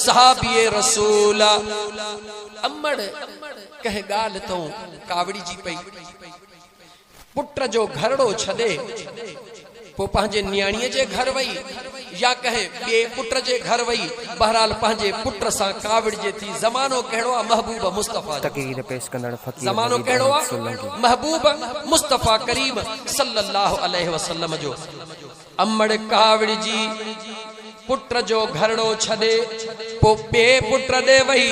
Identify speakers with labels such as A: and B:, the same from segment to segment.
A: صحابي رسول امڙ ڪنهن ڳالهه تئون ڪاوڙجي پئي. پٽ جو گهرڙو ڇڏي پوء پنهنجي نياڻيء جي گهر وئي يا ڪنهن ٻئي پٽ جي گهر وئي، بهرحال پنهنجي پٽ سان ڪاوڙجي ٿي. زمانو ڪهڙو آ محبوب مصطفيٰ جو. تقرير پيش ڪندڙ
B: فقير زمانو وحيد ڪهڙو آ احمد سولنگي.
A: محبوب مصطفيٰ ڪريم صلّي اللّٰه عليه وسلّم جو. امڙ ڪاوڙ جي پٽ جو گهرڙو ڇڏي پوء ٻئي پٽ ڏي وئي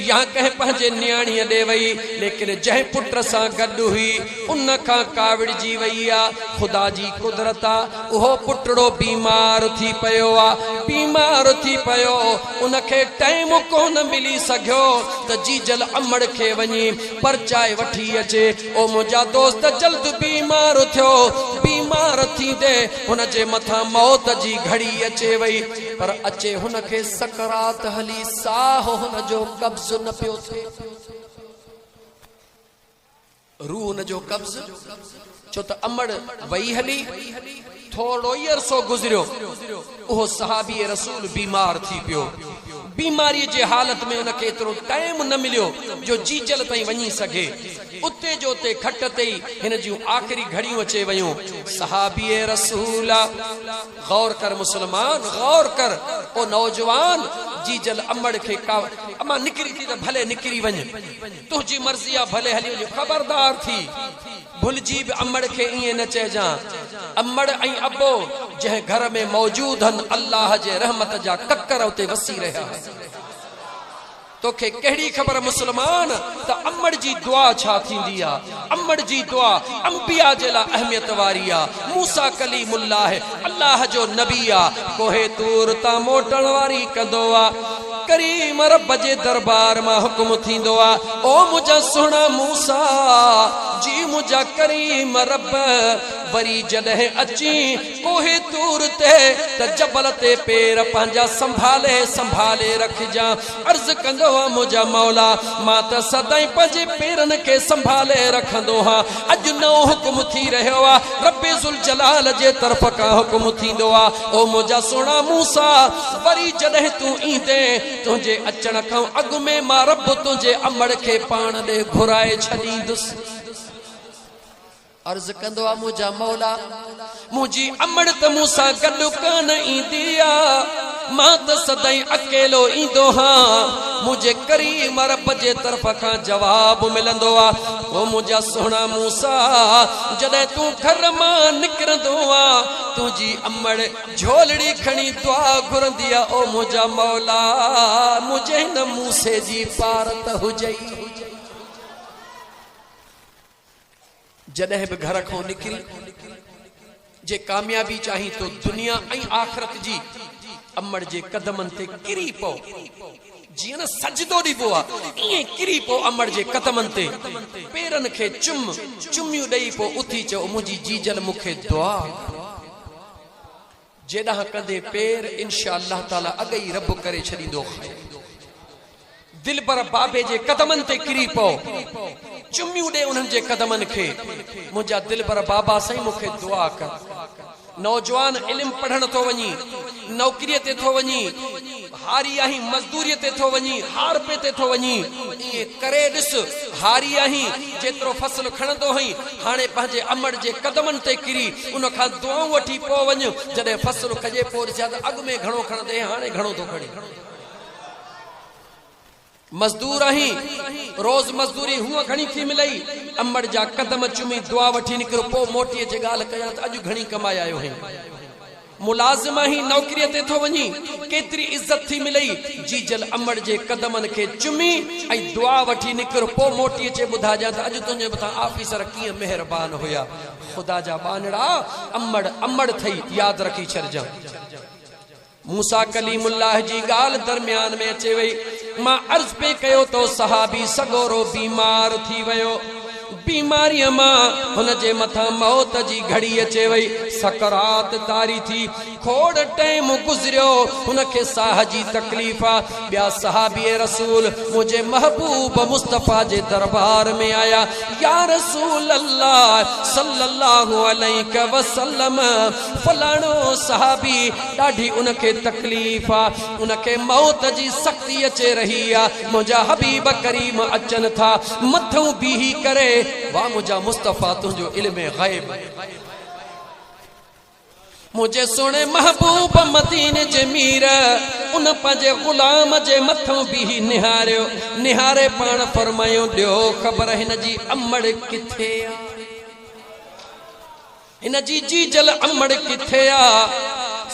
A: يا ڪنهن پنهنجي نياڻيء ڏي وئي ليڪن جنهن پٽ سان گڏ هئي ان کان ڪاوڙجي وئي آ. خدا جي قدرت آ اهو پٽڙو بيمار ٿي پيو آ بيمار ٿي پيو ان کي ٽئيم ڪونه ملي سگهيو ته جيجل امڙ کي وڃي پرچائي وٺي اچي او منهنجا دوست جلد بيمار ٿيو. بيمار ٿيندي هن جي مٿان موت جي گهڙي اچي وئي. پر اچي هن کي سڪرات هلي ساهه هن جو قبض نه پيو ٿئي. روح هن جو قبض ڇو ته امڙ وئي هلي. ٿورڙوئي عرصو گذريو، اهو صحابي رسول بيمار ٿي پيو. بيماريء جي حالت ۾ ان کي ايترو ٽائيم نه مليو جو جيجل تائين وڃي سگهي. اتي جو اتي کٽ تي ئي هن جون آخري گهڙيون اچي ويون. صحابي رسول! غور ڪر مسلمان، غور ڪر او نوجوان! جيجل امڙ کي ڪا امان نڪري ٿي ته ڀلي نڪري وڃ، تنهنجي مرضي آ، ڀلي هلي وڃ، خبردار ٿي! ڀلجي به امڙ کي ائين نه چئجان. امڙ ۽ ابو جنهن گهر ۾ موجود هن الله جي رحمت جا ڪڪر اتي وسي رهيا آهن. توکي ڪهڙي خبر مسلمان ته امڙ جي دعا ڇا ٿيندي آ. امڙ جي دعا انبيا جي لا اهميت واري آ. موسيٰ ڪليم الله الله جو نبي آ. ڪوهي طور تان موٽڻ واري ڪندو آ. ڪريم رب جي دربار مان حڪم ٿيندو آ، او منهنجا سهڻا موسيٰ! جي منهنجا ڪريم رب وري جڏهن اچين ڪوهه طور تي ته جبل تي پير پنهنجا سنڀالي سنڀالي رکجان. عرض ڪندو آ، منهنجا مولا! مان ته سدائين پنهنجي پيرن کي سنڀالي رکندو هان. اڄ نئون حڪم ٿي رهيو آ رب ذوالجلال جي طرف کان حڪم ٿيندو آ او منهنجا سهڻا موسيٰ وري جڏهن تون ايندين تنهنجي اچڻ کان اڳ ۾ مان رب تنهنجي امڙ کي پاڻ ڏي گهرائي ڇڏيندس عرض ڪندو آ منهنجا مولا! منهنجي امڙ ته مون سان گڏ ڪانه ايندي آ، مان ته سدائين اڪيلو ايندو هان. منهنجي ڪريم رب جي طرف کان جواب ملندو آ، او منهنجا سهڻا موسيٰ! جڏهن تون گهر مان نڪرندو آ، تنهنجي امڙ جهولڙي کڻي دعا گهرندي آ، او منهنجا مولا! منهنجي هن موسي جي پارت هجئي. جڏهن به گهر کان نڪرين، جي ڪاميابي چاهين تو دنيا ۽ آخرت جي، امڙ جي قدمن تي ڪري پو، جيئن نه سجدو ڏبو آ، ائين ڪري پو امڙ جي قدمن تي، پيرن کي چم، چميون ڏئي پو اٿي چئو منهنجي جيجل مون کي دعا ڪر. جيڏانهن ڪندي پير انشاء الله تعالي اڳئي رب ڪري ڇڏيندو خير دلبر بابي جي قدمن تي ڪري پئو چميون ڏي انهن جي قدمن کي منهنجا دلبر بابا سائين مون کي دعا ڪر نوجوان علم پڙهڻ ٿو وڃي نوڪري تي ٿو وڃي هاري آهين مزدوريء تي ٿو وڃين، هارپي تي ٿو وڃين، ائين ڪري ڏس، هاري آهين، جيترو فصل کڻندو هئين، هاڻي پنهنجي امڙ جي قدمن تي ڪري، ان کان دعائون وٺي پوء وڃ، جڏهن فصل کڄي پوء ڏسجان ته اڳ ۾ گهڻو کڻندي هئين، هاڻي گهڻو ٿو کڻين. مزدور آهين، روز مزدوري هونء گهڻي ٿي ملئي. امڙ جا قدم چمي دعا وٺي نڪرو، پوء موٽي اچي ڳالهه ڪجان ته اڄ گهڻي ڪمائي آيو آهين. ملازم آهين، نوڪريء تي ٿو وڃين، ڪيتري عزت ٿي ملئي. جيجل امڙ جي قدمن کي چمي ۽ دعا وٺي نڪر، پوء موٽي اچي ٻڌائجان ته اڄ تنهنجي مٿان آفيسر ڪيئن مهربان هيا. خدا جا ٻانهڙا، امڙ امڙ ٿئي، ياد رکي ڇڏجان. موسيٰ ڪليم الله جي ڳالهه درميان ۾ اچي وئي. مان عرض پئي ڪيو ته صحابي سڳورو بيمار ٿي ويو. بيماريء مان هن جي مٿان موت جي گهڙي اچي وئي. سڪرات طاري ٿي. کوڙ ٽيم گذريو. هن کي ساهه جي تڪليف آ. ٻيا صحابي رسول منهنجي محبوب مصطفيٰ جي دربار ۾ آيا. يا رسول الله صلّي اللّٰه عليڪ وسلّم! فلاڻو صحابي ڏاڍي ان کي تڪليف آ ان کي موت جي سختي اچي رهي آ منهنجا حبيب ڪريم اچن ٿا مٿئون بيهي ڪري واھ منهنجا مصطفيٰ تنهنجو علم غيب منهنجي سهڻي محبوب مدين جي مير ان پنهنجي غلام جي مٿئون بيهي نهاريو نهاري پاڻ فرمايو ڏيو خبر هن جي امڙ ڪٿي آ هن جي جيجل امڙ ڪٿي آ؟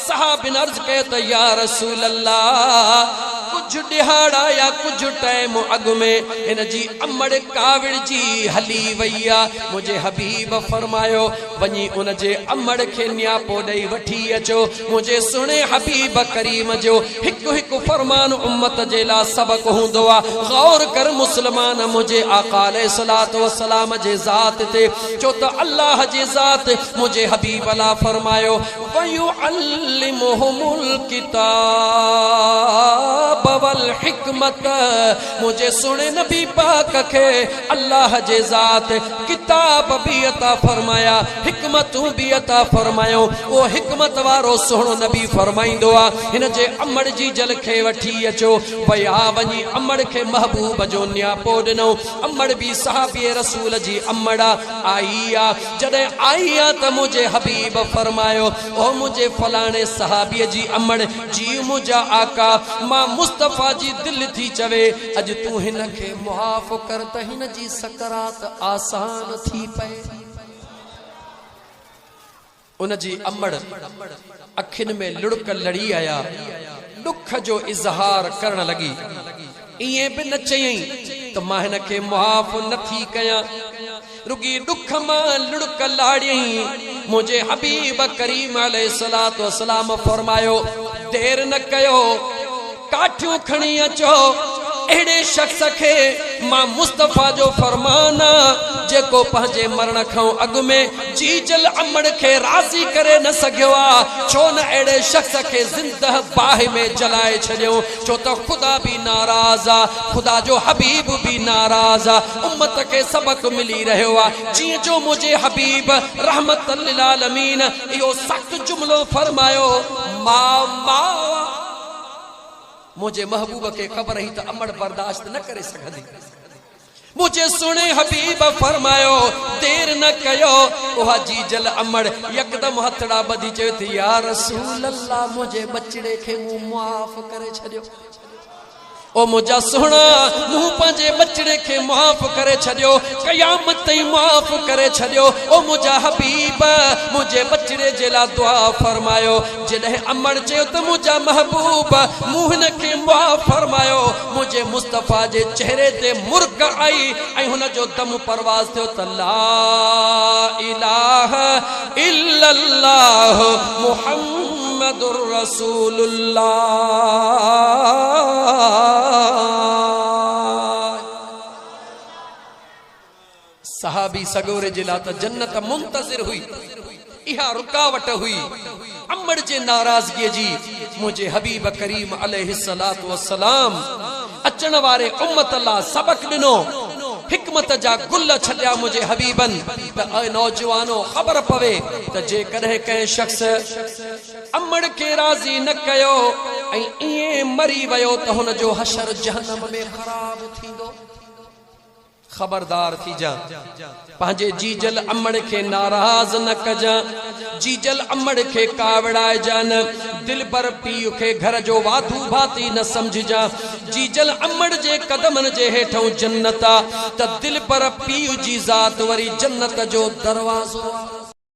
A: صحابين عرض ڪئي ته يا رسول الله ڪجهه ڏهاڙا يا ڪجهه ٽائيم اڳ ۾ هن جي امڙ ڪاوڙجي هلي وئي آ، منهنجي حبيب فرمايو وڃي ان جي امڙ کي نياپو ڏئي وٺي اچو، منهنجي سهڻي حبيب ڪريم جو هڪ هڪ فرمان امت جي لا سبق هوندو آ، غور ڪر مسلمان منهنجي آقا عليه الصلوة والسلام جي ذات تي ڇو ته الله جي ذات منهنجي حبيب لاء فرمايو، ويعلمهم الڪتاب والحڪمة منهنجي سهڻي نبي پاڪ کي الله جي ذات ڪتاب به عطا فرمايا حڪمتون به عطا فرمايون اهو حڪمت وارو سهڻو نبي فرمائيندو آ هن جي امڙ جي جل کي وٺي اچو ويا وڃي امڙ کي محبوب جو نياپو ڏنو امڙ به صحابي رسول جي امڙ آئي آ، جڏهن آئي آ ته منهنجي حبيب فرمايو، او منهنجي فلاڻي صحابي جي امڙ، جي منهنجا آقا! مان مصطفيٰ جي دل ٿي چوي، اڄ تون هن کي معاف ڪر ته هن جي سڪرات آسان ٿي پئي. ان جي امڙ اکين ۾ لڙڪ لڙي آيا، ڏک جو اظهار ڪرڻ لڳي، ائين به نه چيئين ته مان هن کي معاف نه ٿي ڪيان، رڳي ڏک مان لڙڪ لاڙيئين، منهنجي حبيب ڪريم عليه الصلوة والسلام فرمايو، دير نه ڪيو! ڪاٺيون کڻي اچو، اهڙي شخص کي مان مصطفيٰ جو فرمان آ، جيڪو پنهنجي مرڻ کان اڳ ۾ جيج الامڙ کي راضي ڪري نه سگهيو آ، ڇو نه اهڙي شخص کي زنده باهه ۾ جلائي ڇڏيون، ڇو ته خدا به ناراض آ، خدا جو حبيب به ناراض آ، امت کي سبق ملي رهيو آ، جيئن جو منهنجي حبيب رحمة للعالمين اهو سخت جملو فرمايو، ماء ماء! منهنجي محبوب کي خبر هئي ته امڙ برداشت نه ڪري سگهندي. منهنجي سهڻي حبيب فرمايو، دير نه ڪيو. اها جيجل امڙ يڪدم هٿڙا ٻڌي چوي ٿي، يا رسول الله منهنجي ٻچڙي کي مون معاف ڪري ڇڏيو. او منهنجا سهڻا! مون پنهنجي ٻچڙي کي معاف ڪري ڇڏيو، قيامت تائين معاف ڪري ڇڏيو. او منهنجا حبيب! منهنجي ٻچڙي جي لاء دعا فرمايو. جڏهن امڙ چيو ته منهنجا محبوب! مون هن کي معاف فرمايو. منهنجي مصطفيٰ جي چهري تي مرڪ آئي ۽ هن جو دم پرواز ٿيو ته لا الٰه. الا الله محمد رسول الله. صحابي سڳوري جي لا ته جنت منتظر هئي اها رڪاوٽ هئي. امڙ جي ناراضگيء جي منهنجي حبيب ڪريم عليه الصلوة والسلام اچڻ واري امت لا سبق ڏنو، حڪمت جا گل ڇٽيا منهنجي حبيبن ته اي نوجوانو خبر پوي ته جيڪڏهن ڪنهن شخص امڙ کي راضي نه ڪيو ۽ ائين مري ويو ته هن جو حشر جهنم ۾ خراب ٿيندو. خبردار ٿيجان، پنهنجي جيجل امڙ کي ناراض نه ڪجان، جيجل امڙ کي ڪاوڙائجان نه، دلبر پيء کي گهر جو واڌو ڀاتي نه سمجهجان، جيجل امڙ جي قدمن جي هيٺئون جنت آ ته دلبر پيء جي ذات وري جنت جو دروازو آ.